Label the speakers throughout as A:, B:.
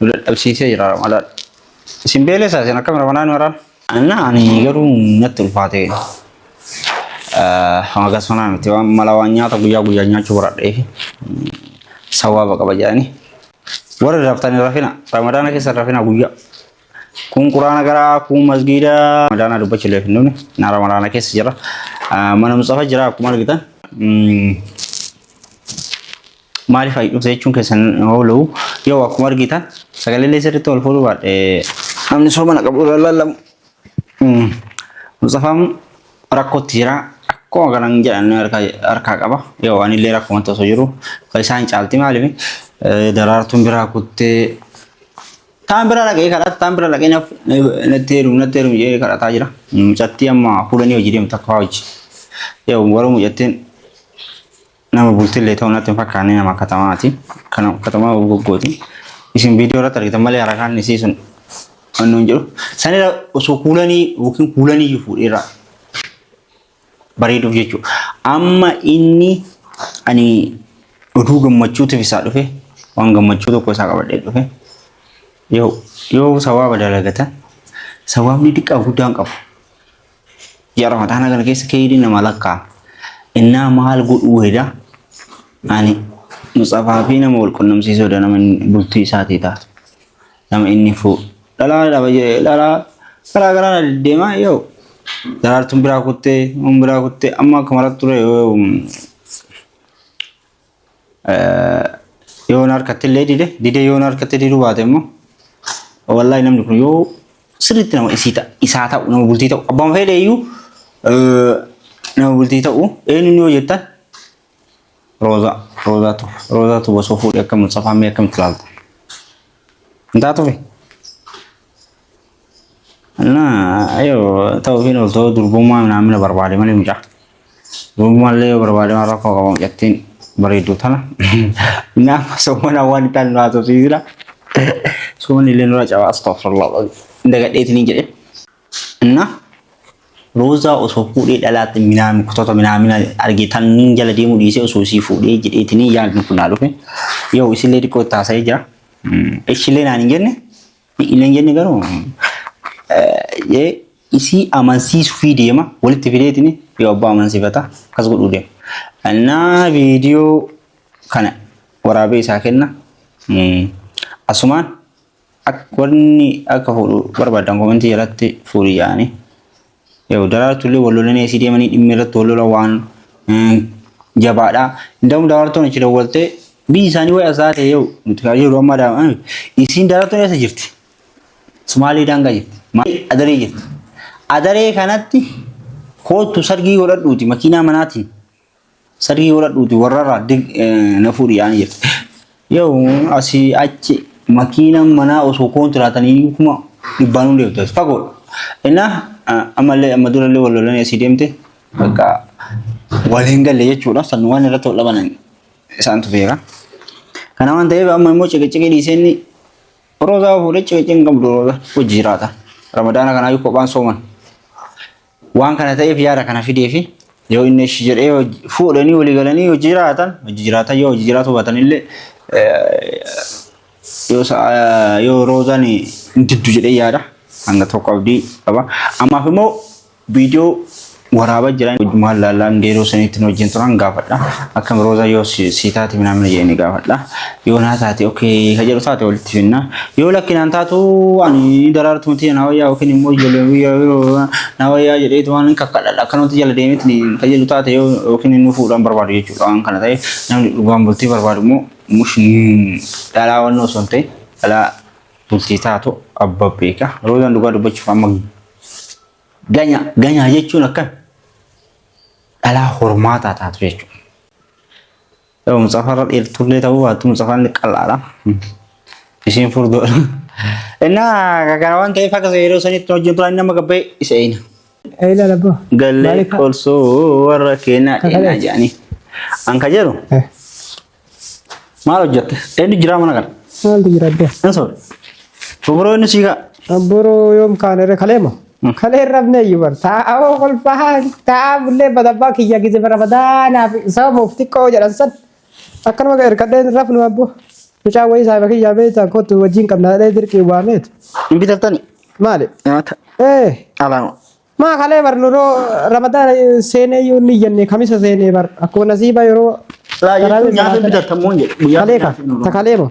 A: Nu dadhabsiisee jira Ramadaan. Isin beelessaa isin akkam Ramadaan maraan? Anna ani garuu natti ulfaate. Hanga sanaa miti waan mala waan nyaata guyyaa guyyaa nyaachuu baradhee fi sawaaba qaba jedhanii. Warri raftan hin rafina. Ramadaana keessa hin rafina guyyaa. Kun quraana garaa, kun masgiida. Ramadaana dubbachuu illee hin dhumne. Na ramadaana keessa jira. Mana Mustafa jira akkuma argitan. Maaliif ayi dhufte jechuun keessan hin oolu. Yoo akkuma argitan sagalee illee sirriitti ol fuudhuu baadhe namni sooma na qabu irra lallamu. Mm. Musxafaan rakkootti jira. Akkuma kanan jedhan harkaa harkaa qaba. Yoo ani illee rakkumatti osoo jiru kan isaan caalti maaliif eh, daraartuun biraa kuttee Taan bira dhaqee kadhata, taan bira dhaqee naf- natti heerumu, natti heerumu jedhee kadhataa jira. Mucattii amma fuulanii hojii deemtu akka hojii. Yoo warra mucattiin Nama bultillee ta'u natti hin fakkaanne nama katamaati. Kana katamaa goggooti. Isin viidiyoo irratti argitan malee harakaan isii sun waan nuun jedhu. Sanirra osoo kuulanii yookiin kuulanii iyyuu fuudheerraa bareeduuf jechuudha. Amma inni ani oduu gammachuutiif isaa dhufe waan gammachuu tokko isaa qabadhee dhufe. Yoo yoo sawaaba dalagatan sawaabni xiqqaa guddaan qabu. Ji'a Ramadaana kana keessa keeyrii nama lakkaa. Innaa maal godhuu heda ani Musxafaa fi nama wal qunnamsiisuu heda nama inni bultii isaatii taatu. Nama inni fuu dhalaa dhaba jedhee dhalaa garaa garaa na deddeemaa yoo daraartuun biraa kuttee uun biraa kuttee amma akka maratti ture yoo Yoon harkatti illee dide didee yoon harkatti diduu baate immoo wallahi namni kun yoo sirriitti nama isii ta'a isaa ta'u nama bultii ta'u abbaan fedhe iyyuu nama bultii ta'u eenyuun yoo jettan roozaa roozaatu roozaatu osoo fuudhee akka mutsafaa mee akkamitti ilaalta hin taatufi. Naa ayoo ta'uu fi nuuf ta'uu durbummaa naamina barbaade malee mucaa. Durbummaa illee yoo barbaade waan rakkoo qabu mucattiin bareedduu tana. Naaf soomana waan itti aannu haa tosiisina. Soomani illee nurra cabaa astagfirullah. Dagadheeti ni jedhe. Naa roozaa osoo fuudhee dhalaatti minaami kutoota minaamina argee tan jala deemuu dhiisee osoo isii fuudhee jedheetinii yaadni kun naa dhufe. Yoo isillee xiqqoo itti haasa'ee jira. Ishillee naan hin jenne illee hin jenne garuu jee isii amansiisuu fi deema walitti fideetini yoo abbaa amansiifata akkas godhuu deema. Annaa viidiyoo kana waraabee isaa kenna. Asumaan warni akka fuudhu barbaadan komentii jalatti fuudhi yaa'anii. Yoo daraartullee wal lolanii asii deemanii dhimmi irratti wal lola waan jabaadha. Indaa'uun daraartuun achi dawwaltee biyyi isaanii wayii asaa ta'e yoo nuti kaa jiru amma daa'an isiin daraartuun eessa jirti? Sumaalee daangaa jirti. Maal adaree jirti. Adaree kanatti koottu sargii godhadhuuti makiinaa manaatiin Sargii godhadhuuti warrarraa dig na fuudhi yaani jette. Yoo asii achi makiinaan manaa osoo kontiraatanii kuma dhibbaan hundi deemte fagoodha. Innaa ammallee amma durallee wal lolanii asii deemte bakka wal hin galle jechuudha. San waan irratti wal dhabanan isaantu beeka. Kana waan ta'eef amma immoo ciqiciqii dhiisee inni roozaa fuudhee ciqiciqii hin qabdu rooza hojii jiraata. Ramadaana kanaayyuu kophaan sooman. Waan kana ta'eef yaada kana fideefi yoo inni eshi jedhee hojii- fuudhanii walii galanii hojii jiraatan hojii jiraatan yoo hojii jiraatu baatan illee yoo sa'a- yoo roozaan hin diddu jedhee yaada hanga tokko abdii qaba. Ammaaf immoo viidiyoo waraabaa jiran maal laallaan geeroo saniitti nu wajjin turan gaafadha. Akkam roozaa yoo si si taate minaa mina jedhanii gaafadha. Yoo naa taate okay ka jedhu taate walitti finna. Yoo lakki naan taatu ani daraartu miti na wayyaa yookiin immoo ijoollee biyyaa na wayyaa jedheetu waan kakkadhadha akkanumatti jala deemetti ka jedhu taate yoo yookiin inni fuudhaan barbaadu jechuudha waan kana ta'e namni dhugaan bultii barbaadu immoo mush dhalaa waan osoo hin ta'e dhalaa bultii taatu abba beeka. Roozaan dhugaa dubbachuuf amma ganya ganyaa jechuun akkan dhalaa hormaataa taatu jechuudha. Yoo mucafarra dheertullee ta'uu baattu mucafaan qal'aadha. Ishiin furdoodha. Innaa kana waan ta'eef akka yeroo sanitti hojjetu inni amma gabbee isa eeyna. Eeyla labbo.
B: Gallee
A: Maaliif haa- qolsuu warra keenyaa Kakale. dheenaa
B: jedhanii.
A: An ka jedhu Eh, maal hojjette? Eenyu jiraa mana kana? Maaltu jira addee? Hin
B: sobe.
A: Fuburoo inni siigaa. Abboroo yoom
B: kaane irra kaleema? Kalee rabne iyyuu bar taa'aa hoo kolfaa taa'aa bullee badabbaa kiyya gize bara badaanaa fi sababuuf xiqqoo jedhan san akkanuma ga ergadheen rafnu abbo mucaa wayii saahiba kiyyaa beektaa kottu wajjin qabna jedhee dirqii waameet Hin bitattani?
A: maali Nyaata.
B: ee
A: Alaama. maa kalee
B: bar nuroo ramadaan seenee iyyuu ni jenne kamisa seenee bar akkuma nasiiba yeroo Laa jechuun nyaata hin
A: bitattamuu hin jedhu. Guyyaa kalee ka nyaata hin ta oolu. kalee
B: moo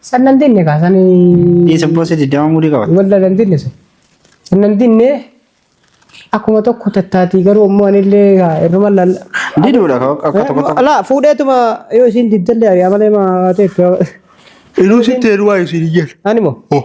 A: San nan dinne kaa san
B: Ii sibboo si diddama
A: mudii qabata. walda nan dinne san.
B: San nan dinne akkuma tokko tattaatii garuu ammoo anillee kaa irruma lalla. Diduudha ka akka
A: tokko tokko. Laa fuudheetuma
B: yoo isiin diddallee ari'aa malee maa ta'e. Inuu
A: sitti heeruwaa isiin hin jedhu. Ani moo? Oh.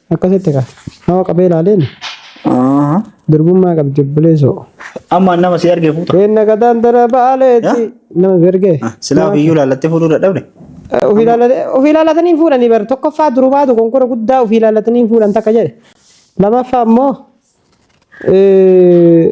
B: Akkasitti
A: kaa.
B: Nama qabee ilaaleen Aha. durbummaa qabdi obboleessoo. Amma nama si
A: argee fuuta. Keenna gataan dara
B: baaleetti. Nama bergee. Silaa ofiyyuu laallattee
A: fuudhuu dadhabde. Ofii ilaallatee-
B: ofii ilaallatanii fuudhanii bar tokkoffaa durumaatu konkora guddaa ofii ilaallatanii fuudhan takka jedhe. Lamaffaa immoo eh,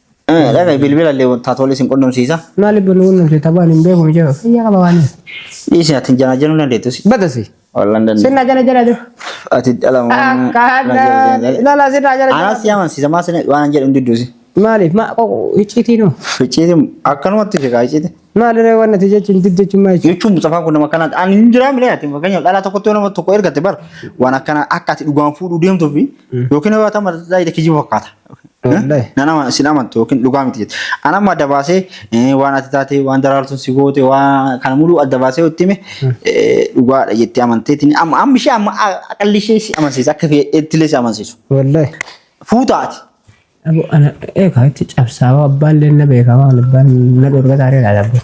B: Eh, Dhagahi
A: bilbila illee taatoolee isin qunnamsiisa. Maaliif nu qunnamte
B: taphaan hin beeku mijaa'u. Fayyaa qaba waan. Dhiisi ati janaa
A: jenuu dandeettu si. Badasi. Wallan
B: dandeettu. Sinna jala
A: jala jala.
B: Ati dhala moo.
A: Akkana.
B: Lala sinna jala Anaa jala. si amansiisa maa sina
A: waan jedhu hin didduusi. Maaliif ma qoqo
B: icciitii nu. Ficciiti akkanumatti
A: sheekaa icciiti. Maalirree waan ati
B: jechuun did jechuun maal jechuun. Jechuun mucafaan kun nama akkanaati.
A: Ani hin jiraa milee ati fakkeenyaaf dhalaa tokkotti yoo nama tokko ergatte bar waan akkana akka ati dhugaan fuudhuu deemtuu fi yookiin yoo ta'an mataa isaa kijiba fakkaata. Wallahi. Nan ama sin amantu yookiin dhugaa miti jette. An amma adda baasee eh, waan ati taate waan daraartuun si goote waan kana muluu adda baasee itti hime eh, dhugaadha jettee amanteetiin amma amma ishee amma aqalli ishee si amansiisa akka fedhettillee si amansiisu. Wallahi.
B: Fuutaati.
A: Abu
B: ana eegaa itti cabsaa abbaan illee na beekaa waan abbaan na dhorga taaree laata abbaa.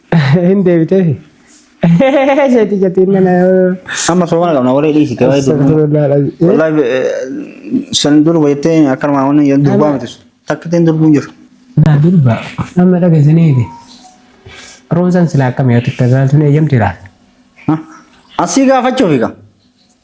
A: Hin
B: deebiteefi. Jeetii jetiin nana. Amma soomana
A: qabna waree dhiisite waa'ee durbaa. Astagfirullah alazim. Wallahi eh, san durba jettee akka armaan wanni jedhan durbaa miti sun. Takka ittiin durbuun jiru. Naa durba.
B: Amma dhageessaniiti. Roonsan silaa akkam yoo xiqqaa zaaltuun eeyyamti laata? Hah? Asii
A: gaafachuufi kaa.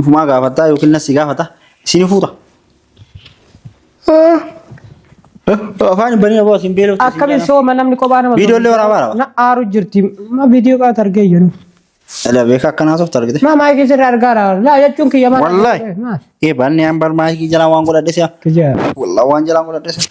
A: Ufumaa gaafataa yookiin nassi gaafata isin fuuta. Afaan banii aboo isin beeloo. Akkamiin sooma namni
B: kophaa nama. Viidiyoo illee waraabaa dha. Na
A: aaru jirti.
B: Ma viidiyoo qaata argee jiru. Ala beeka
A: akkanaa soofta argite. Ma maayikii sirra argaa
B: dha. Laa jechuun kiyya maal. Wallahi. Ee
A: baanni aan bar maayikii jalaa waan godhadhe si'a. Kiyya. Wallah waan
B: jalaa
A: godhadhe si'a.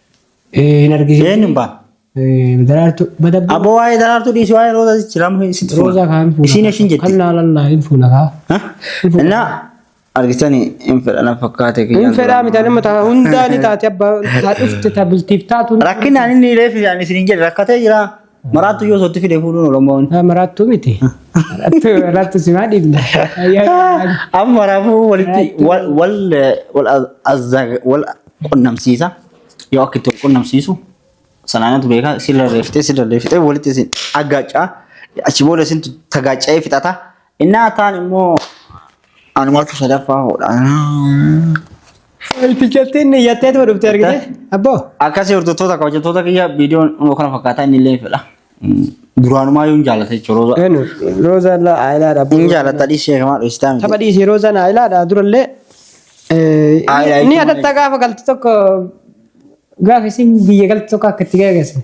B: Eh, hin argisiin. Eenyu hin baane?
A: Eh, daraartuu
B: madabbaa. Abbo waa'ee daraartuu
A: dhiisii waa'ee roozaa sichi lamu sitti fuula. Roozaa kaan fuula. Isiin
B: ishiin jetti. Kan
A: laalallaa hin fuula
B: kaa.
A: Hah? Innaa argitanii hin fedha na fakkaate kiyyaan Hin fedhaa mitaa nama
B: taa hundaa ni taate abbaa taa dhufte taa bultiif taatu. Rakkinaan inni reefi
A: isaan isin hin jedhe rakkatee jira. Maraattu yoo sootti fide fuudhuun Oromoon. Ah, Maraattuu miti.
B: Maraattuu maraattuu simaa dhiibna.
A: Amma maraafuu walitti wal wal wal azza- wal qunnamsiisa. Yoo akka itti wal qunnamsiisu sanaanatu beekaa sirra reeftee sirra reeftee walitti isin aggaacaa achi booda isintu tagaaca'ee fixata. Innaa kaan immoo anumatu sadaffaa hoodha.
B: Biqiltiin niyyattee tuma dhufte argite. Abboo. Akkasii hordoftoota
A: akka hojjettoota kiyya viidiyoon immoo kana fakkaataa inni illee fedha. Duraanumaa yoo hin jaallate jechuudha roozaa. Enu roozaan
B: laa ayilaadha. Hin jaallata dhiisee kamaa
A: dhoofsitaa miti. Tapha dhiisii roozaan ayilaadha
B: durallee. Aayilaa Ni jechuun adatta gaafa galtu tokko gaafa isin biyya galtu tokko akka itti gaggeessan.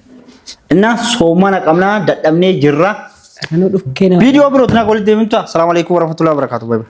B: Innaa
A: soomana qabnaa dadhabnee jirra. Kanuu dhukkee nama. Viidiyoo birootiin akka walitti deemnu ta'a. Salaamu alaikum warahmatullahi wabarakatuh. Bye bye.